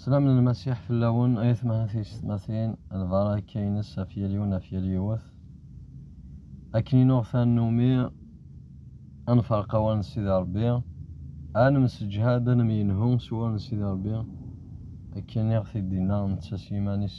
Slam n Lmasiḥ fell-awen ay atmaten tiyessetmatin, lbaṛaka-nnes ɣef yal yiwen ɣef yal yiwet. Akken i nuɣ tannumi, ad nferq awal n Sidi Ṛebbi, ad nemseǧhad, ad nemyenhu s wawal n Sidi Ṛebbi, akken i ɣ-t-id-yenna netta s yiman-is.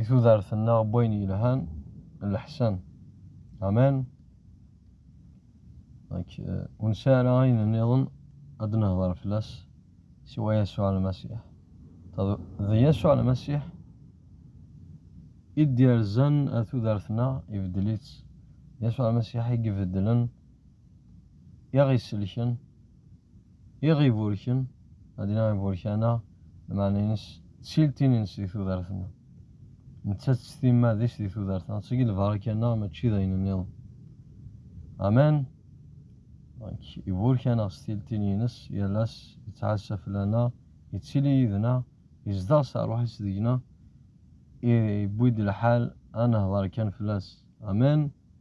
i tudert-nneɣ n wayen yelhan n leḥsan. Amen. Donc, ur nesɛi ara ayen nniḍen ad nehder fell-as siwa Yasuɛ Lmasiḥ. D Yasuɛ Lmasiḥ i d-yerzan ar tudert-nneɣ, ibeddel-itt. D Yasuɛ Lmasiḥ i ibeddlen, i aɣ-isellken. Iɣ iburken, ad iniɣ iburkana, lmeɛna-ines d tiltin-ines di tudert-nneɣ. Nettat d timmad-is di tudert-nneɣ, ttagi lbaraka-nneɣ mačči d ayen-nniḍen. Amen! Donc, iburek-aneɣ s tiltin-ines, yal ass yettɛassa fell-aneɣ, yettili yid-neɣ, yezdeɣ s rruḥ-is deg-neɣ, iwwi-d lḥal ad nehder kan fell-as. Amen!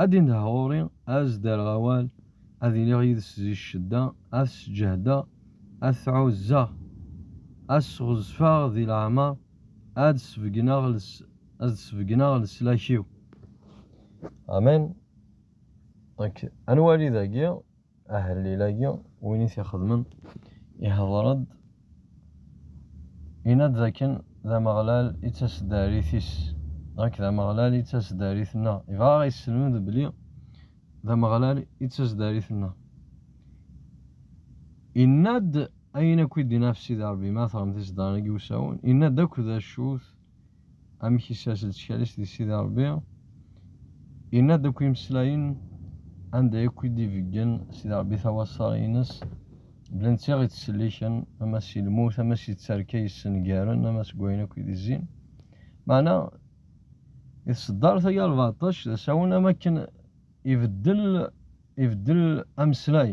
Ad d-indeh ɣur-i, ad s-d-rreɣ awal, ad iliɣ yid-s di ccedda, ad t-sǧehdeɣ, ad t-ɛuzzeɣ, ad s-ɣezfeɣ di leɛmer, ad d-sbegneɣ ad d-sbegneɣ leslak-iw. Amen. Anwa-li dagi Ahellil-agi, win i t-ixedmen, ihḍer-d, yenna-d dakken d Ameɣlal i d taseddarit-is, ɣak d Ameɣlal i d taseddarit-nneɣ. Ibɣa a ɣ-yesselmed belli d Ameɣlal i d taseddarit-nneɣ. Yenna-d ayen akk i d-yenna ɣef Sidi Ṛebbi, ma teɣrem tiseddarin-agi usawen, yenna-d akk d acu-t, amek isers leţkal-is di Sidi Ṛebbi, yenna-d akk imeslayen anda akk i d-ibeggen Sidi Ṛebbi tawaṣṣa-ines, bla netta i ţ-ţelliken, ama si lmut, ama si tterka yessengaren, ama seg wayen akk i d-izzin. Meɛna, i tṣeddart-agi rbeɛṭac d asawen am wakken ibeddel ibeddel ameslay.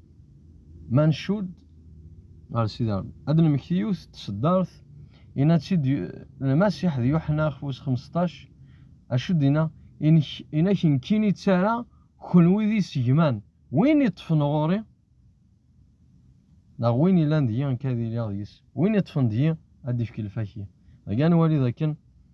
Ma ncudd ɣer Sidi Rebbi, ad d-nemekti yiwet n tseddart, yenna-tt-id Lmasiḥ d Yuḥenna ɣef wis xmesṭac, acu d-yenna, Yenna-k nekkini i ttara, kenwi d isegman, win iṭṭfen ɣur-i, neɣ win yellan deg-i, nekk ad iliɣ deg-s, win iṭṭfen deg-i, ad d-ifk lfak-iw. Dagi ad nwali d akken.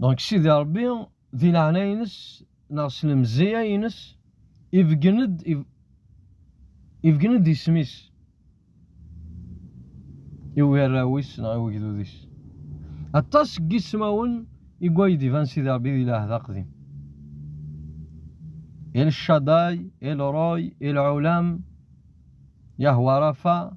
donc sidi rebbi di leɛnaya-ines neɣ s lemzeyya-ines ibeggen-d ibeggen-d isem-is i ugarraw-is neɣ i ugdud-is aṭas n yismawen i way d-iban sidi rebbi di lɛehd aqdim el Shaddai el Roy el Ulam Yahwa Rafa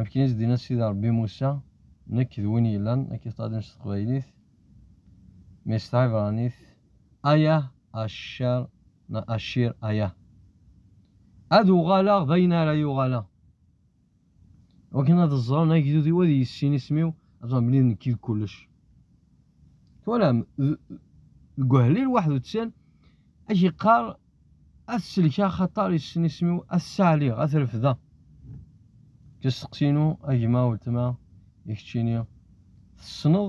Akken i s-d-yenna Sidi Ṛebbi Musa, Nekk d win yellan, ad k-iṭṭaden s teqbaylit, mi s tɛibṛanit, Ayah, Asher, neɣ Ashir, Ayah. Ad uɣaleɣ d ayen ara yuɣaleɣ. Wakken ad ẓren agdud-iw ad yissin isem-iw, ad ẓren belli d nekk i d kullec. Twalam, deg uhlil waḥed u tsen, ak yeqqar ad t-selkeɣ axaṭer yessen isem-iw, ad t-ssaɛliɣ, ad t-refdeɣ. Kesteqsi-inu, a gma, weltma, i keččini, tessneḍ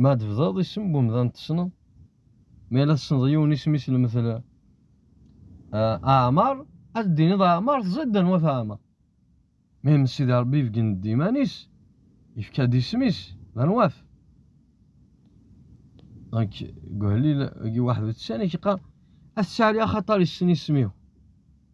Ma ad tebdaḍ isem n umdan tessneḍ? Ma yella tessneḍ yiwen isem-is lmettel Aɛmar, ad d-tiniḍ Aɛmar teẓriḍ-d anwa Aɛmar. Ma yemmet Sidi Rebbi ibeggen-d iman-is, yefka-d isem-is d anwa-t. Donc, Guhlil, Guy Waḥed Utsan, i k-yeqqar, ad tettɛali axaṭar yessen isem-iw.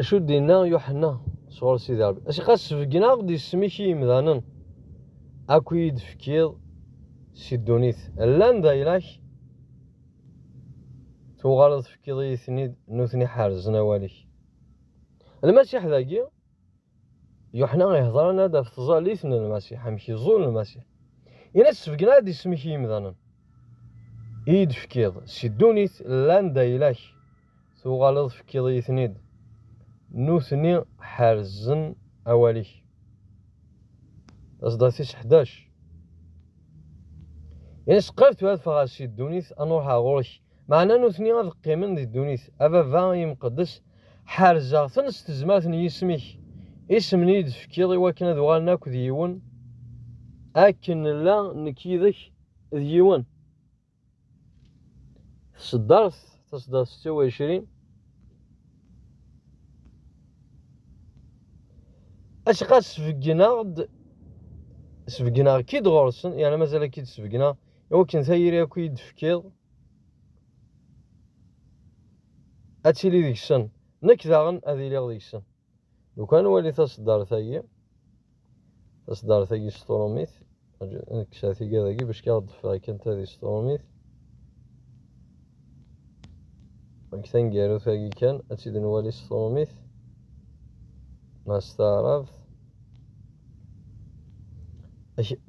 Acu d-inna Yuḥenna sɣur Sidi Ṛebbi? As ɣas sbegneɣ-d isem-ik i yimdanen, akk i yi-d-tefkiḍ si ddunit, llan d ayla-k, tuɣaleḍ tefkiḍ-iyi-ten-id, nutni ḥerzen awal-ik. Lmasiḥ dagi. Yuḥna ihedran-ad ɣef tẓallit n Lmasiḥ, amek iẓul Lmasiḥ. Ini-as sbeggen-aɣ-d isem-ik i yimdanen i yi-d-tefkiḍ si ddunit llan d ayla-k, tuɣaleḍ tefkiḍ-iyi-ten-id, nutni ḥerzen awal-ik. Taseḍḍa tis ḥdac. Ini-as qrib tura ad ffɣeɣ si ddunit, ad n-ruḥeɣ ɣur-k. Meɛna nutni ad qqimen di ddunit. A Baba imqeddes, ḥerzeɣ-ten s tezmert n yisem-ik, isem n iyi-d-tefkiḍ i wakken ad uɣalen akk d yiwen, akken nella nekk yid-k d yiwen. Tseddart taseddart setta uɛecrin. Acqa sbeggen-aɣ-d, sbeggen-aɣ-k-id ɣur-sen, yerna mazal ad k-id-sbeggen-aɣ. iwakken tayri akk i d-tefkiḍ ad tili deg-sen nekk daɣen ad iliɣ deg-sen lukan wali taseddart-agi taseddart-agi sṭurumit kkseɣ tiga dagi bac kkiɣ d-ffeɣ kan tadi sṭurumit deg taneggarut-agi kan ad tid nwali sṭurumit ma s taɛrabt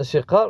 as-iqqar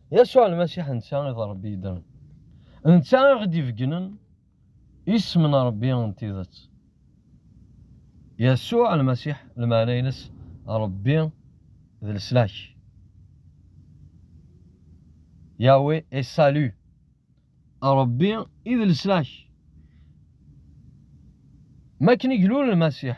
Yasuɛ Lmasiḥ netta i d Ṛebbi yeddren. D netta i ɣ-id-ibeggnen isem n Ṛebbi n tidet. Yasuɛ Lmasiḥ, lmeɛna-ines Ṛebbi d leslak, Yahweh est salut, Ṛebbi i d leslak. Mi akken i ilul Lmasiḥ,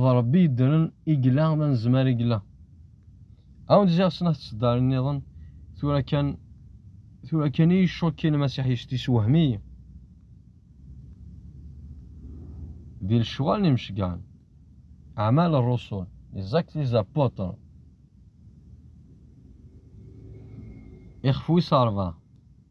d Ṛebbi yeddren i yella, d anezmar i yella. Awen-d ziɣ snat tseddarin nniḍen, tura kan, tura kan i yi-cukki Lmasiḥ yect yessewhem-iyi. Di lecɣal n imecgan, Aɛmal Ṛṛusul, Les Actes des Apôtres, ixef wis ṛebɛa.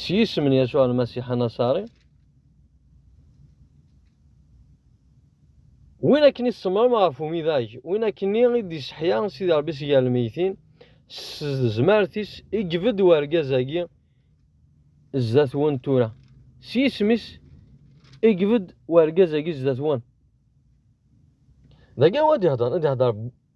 S yisem n Yasuɛ Lmasiḥ Anaṣari, win akken i tsemmrem ɣef umidag, win akken i d-iseḥya Sidi Ṛebbi si gar lmeytin, s tezmert-is i yebedd wergaz-agi zdat-wen tura. S yisem-is i yebedd wergaz-agi zdat-wen. Dagi anwa i d-ihedṛen? I d-ihedṛ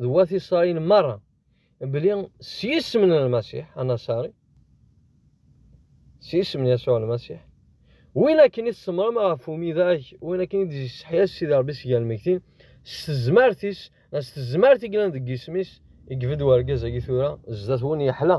d wat Isṛayil meṛṛa belli s yisem n Lmasiḥ anaṣari, s yisem n Yasuɛ Lmasiḥ, win akken i tsemrem ɣef umidag, win akken i d-yesseḥya Sidi Ṛebbi seg lmegtin, s tezmert-is, s tezmert i yellan deg yisem-is, i yebedd urgaz-agi tura sdat-wen yeḥla.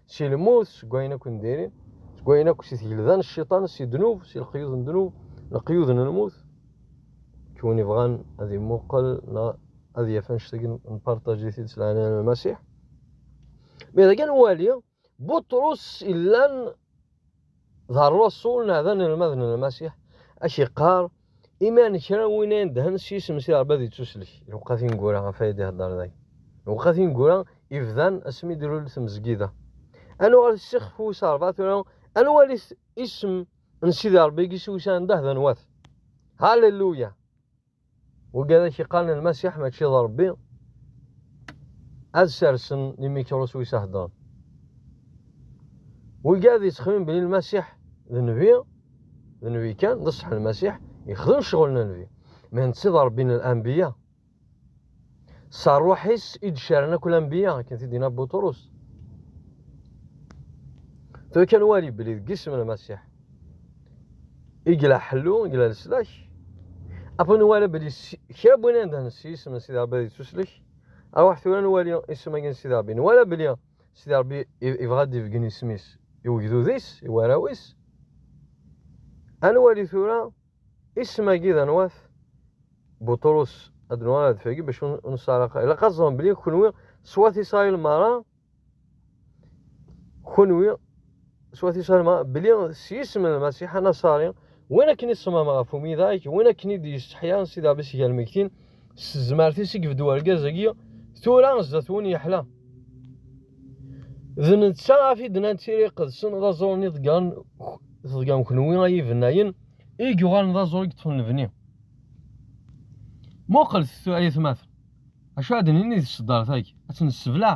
Si lmut, seg wayen akk ndiri, seg wayen akk si tgelda n cciṭan, si ddnub, si leqyud n ddnub, leqyud n lmut. Kk win ibɣan ad imuqel neɣ ad yaf annect-agi nparṭaǧ-it-id s leɛnaya n Lmasiḥ. Mi dagi nwali, Buṭrus illan d rrasul neɣ d anelmad n Lmasiḥ, ak iqqar Iman kra win ay indhen s yisem si Rebbi ad yettuslek. Iwqqa tineggura ɣef ay d-ihedder day. Iwqqa tineggura ibdan asmi d-ilul tmezgida. Ad nuɣal ssixef wis rebɛa tura ad nwali isem n Sidi Rebbi i yiswisan anda d anwat. Halleluya! Wugad ak iqqaren lmasiḥ mačči d Rebbi ad sersen imikṛus wis aheddren. Wugad yettxemim belli lmasiḥ d nnbi d Nebi kan, d ṣṣeḥ Lmasiḥ, yexdem ccɣel n Nebi. Ma netta d Ṛebbi n Anbiya. S ṛṛuḥ-is i d-caren akk Lanbiya, akken t-id-yenna Buṭrus. Tura kan wali belli deg isem n Lmasiḥ i yella ḥellu, i yella leslak. Apa nwala belli kra n win anda nessi isem n Sidi Ṛebbi ad yettuslek. Aṛwaḥ tura nwali isem-agi n Sidi Ṛebbi. Nwala belli Sidi Ṛebbi ibɣa ad d-ibeggen isem-is i ugdud-is, i warraw-is. Ad nwali tura isem-agi d anwat. Buṭrus ad nwali ad d-fagi bac ur nesɛaraq. Ilaq ad ẓren belli kunwi s wat Isṛayil meṛṛa, kunwi Swati Salma, beli s yisem n Lmasiḥ Anasari, win akken iṣmam ɣef umidag, win akken i d-yesteḥya si daɣ bis gar lmegtin, s tezmert-is i yebdu urgaz-agi, tura zdat-wen yeḥla. D netta af i d-nnan tira iqedsen, d aẓur-nni iḍeggren teḍgan kenwi ay ibennayen, i yuɣalen d aẓur i yeṭṭfen lebni. Muqlet ay atmaten, acu ad d-nini di tseddart-agi, ad tt-nessebleɛ.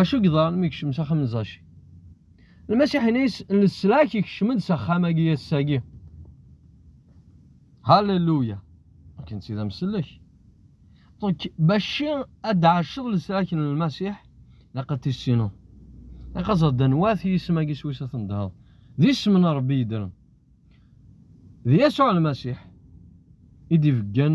Acu yeḍran mi kecmen s axxam n Zaci? Lmasiḥinis n leslak ikecmen-d s axxam-agi ass-agi. Halleluya! Akken d tida msellek. Donc, baci ad d-ɛaceḍ leslak n Lmasiḥ, laq ad tissineḍ. Laq ad ẓeḍ danwat yisem-agi s wis ad tendheḍ. D isem n Rebbi yeddren. D Yasuɛ Lmasiḥ i d-ibeggen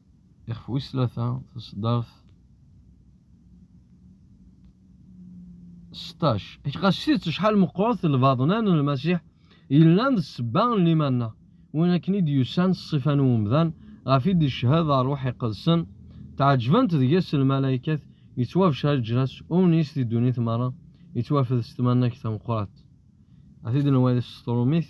Ixef wis tlata, taseddart seṭṭac. Ɣas s tidet acḥal meqqret lbaḍna n Lmasiḥ yellan d ssebba n liman-nneɣ, win akken i d-yusan s ṣṣifa n umdan, ɣef i d-icehhed ṛṛuḥ iqedsen, tɛeǧǧbent deg-s lmalaykat, yettwabeccer leǧnas umnis di ddunit meṛṛa, yettwafed s tmannagt tameqqrant. Ad t-id-nwali s teṣtrumit.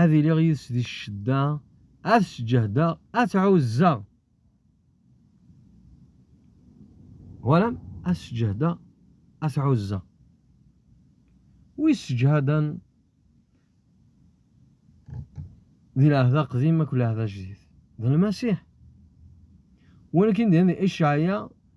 ad iliɣ yid-s di ccedda, ad sǧehdeɣ, ad tɛuzzeɣ. Walam, ad sǧehdeɣ, ad tɛuzzeɣ. Wi sseǧhaden di lɛehd aqdim akked lɛehd ajdid, d Lmasiḥ. Walakin di Icɛaya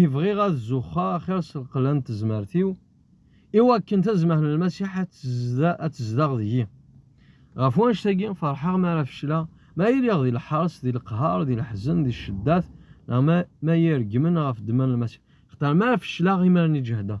I bɣiɣ ad zuxxeɣ axir s lqella n tezmert-iw, i wakken tazmert n Lmasiḥ ad tezdeɣ deg-i. Ɣef wanect-agi, ferḥeɣ mi ara fecleɣ, mi ara iliɣ di leḥres, di leqher, di leḥzen, di cceddat, neɣ mi ara iyi-reggmen ɣef ddemma n Lmasiḥ. Axaṭer mi ara fecleɣ, imiren i ǧehdeɣ.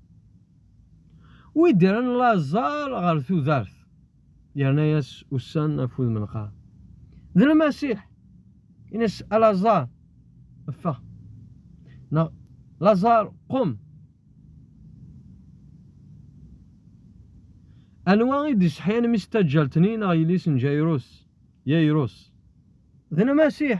Wi d-irran laẓar ɣer tudert, yerna-yas ussan ɣef wudem lqar. D Lmasiḥ, in-as a Laẓar, ffeɣ! Neɣ Laẓar, qum! Anwa i d-iseḥyan mmi-s n taǧǧalt-nni neɣ yelli-s n Jayirus? Yayirus. D Lmasiḥ!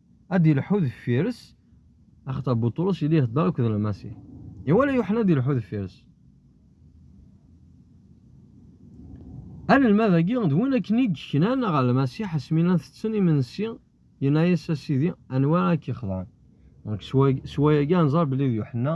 ad ilḥu deffir-s axaṭer Buṭrus yella ihedder akked Lmasiḥ. Iwala Yuḥna ad ilḥu deffir-s. Anelmad-agi d win akken i yeknan ɣer Lmasiḥ asmi llan tetten imensi, yenna-as a Sidi, anwa ara k-ixḍan? Deg swaya-agi ad nẓer belli d Yuḥna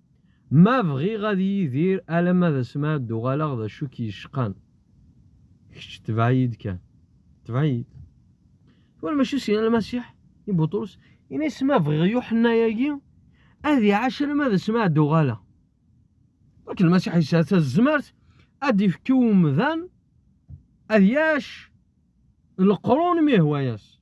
Ma bɣiɣ ad yidir alamma d asmi ara d-uɣaleɣ d acu i k-yecqan? Kečč tebɛ-iyi-d kan. Tebɛ-iyi-d. Tura mačči syin a Lmasiḥ, i Buṭrus, ini-as ma bɣiɣ Yuḥenna-agi ad iɛac alamma d asmi ara d-uɣaleɣ. Yak Lmasiḥ yesɛa tazmert ad d-ifk i umdan ad yac leqrun mi yehwa-yas.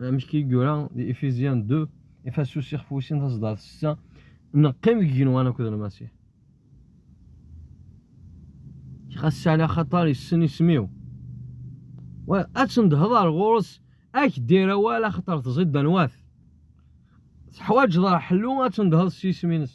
amek i yura di Ephésiens 2 Effasus ixef wis sin taseddart setta neqqim deg yigenwan akked Lmasiḥ xas sɛli axaṭar yessen isem-iw wa ad tendheḍ ar ɣur-s ad k-d-irr awal axaṭer tẓid d anwa-t teḥwaǧeḍ ar ḥellu ad tendheḍ s yisem-ines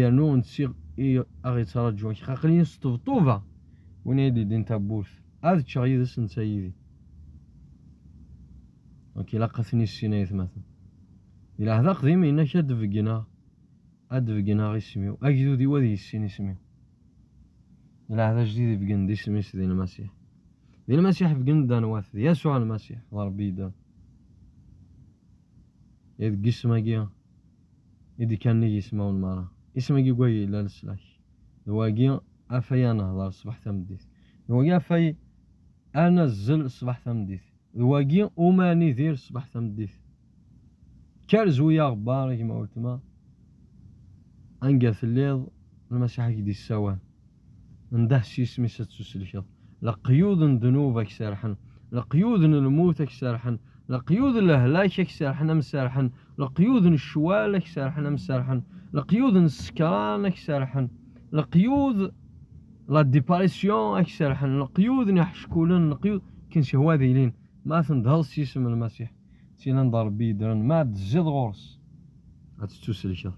yernu nsiɣ i aɣ-yettṛaǧu kra aql-iyi s ṭebṭuba win ay d-yeldin tawwurt ad ččeɣ yid-s netta yid-i ok ilaq ad ten-issin ayetmaten di lɛehd aqdim yenna-k ad d-beggneɣ ad d-beggneɣ isem-iw agdud-iw ad yissin isem-iw di lɛehd ajdid ibeggen-d isem-is di lmasiḥ di lmasiḥ beggen-d anwa-t d yasuɛ lmasiḥ d rebbi yeddren deg isem-agi i d-kkan nnig yismawen merra. Isem i yugag yellan leslak. D wagi afay ad nehder ṣṣbeḥ tameddit. D wagi afay ad nazzel ṣṣbeḥ tameddit. D wagi umi ad nidir ṣṣbeḥ tameddit. Kker zwi aɣebbar a gma weltma, anga telliḍ Lmasiḥ a k-d-yessawal. Ndeh s yisem-is ad tusellkeḍ. Leqyud n ddnub a k-serḥen, leqyud n lmut a k-serḥen, leqyud n lehlak a k-serḥen a m-serḥen, leqyud n ccwal a k-serḥen a m-serḥen, leqyud n ssekṛan a k-serḥen, leqyud la diparisyon a k-serḥen, leqyud n iḥeckulen, leqyud ken sihwa ad ilin, ma tendheḍ s yisem n Lmasiḥ, d tin anda Ṛebbi yeddren, ma ad d-tezziḍ ɣur-s, ad tettuselkeḍ,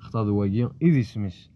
xaṭer d wagi i d isem-is.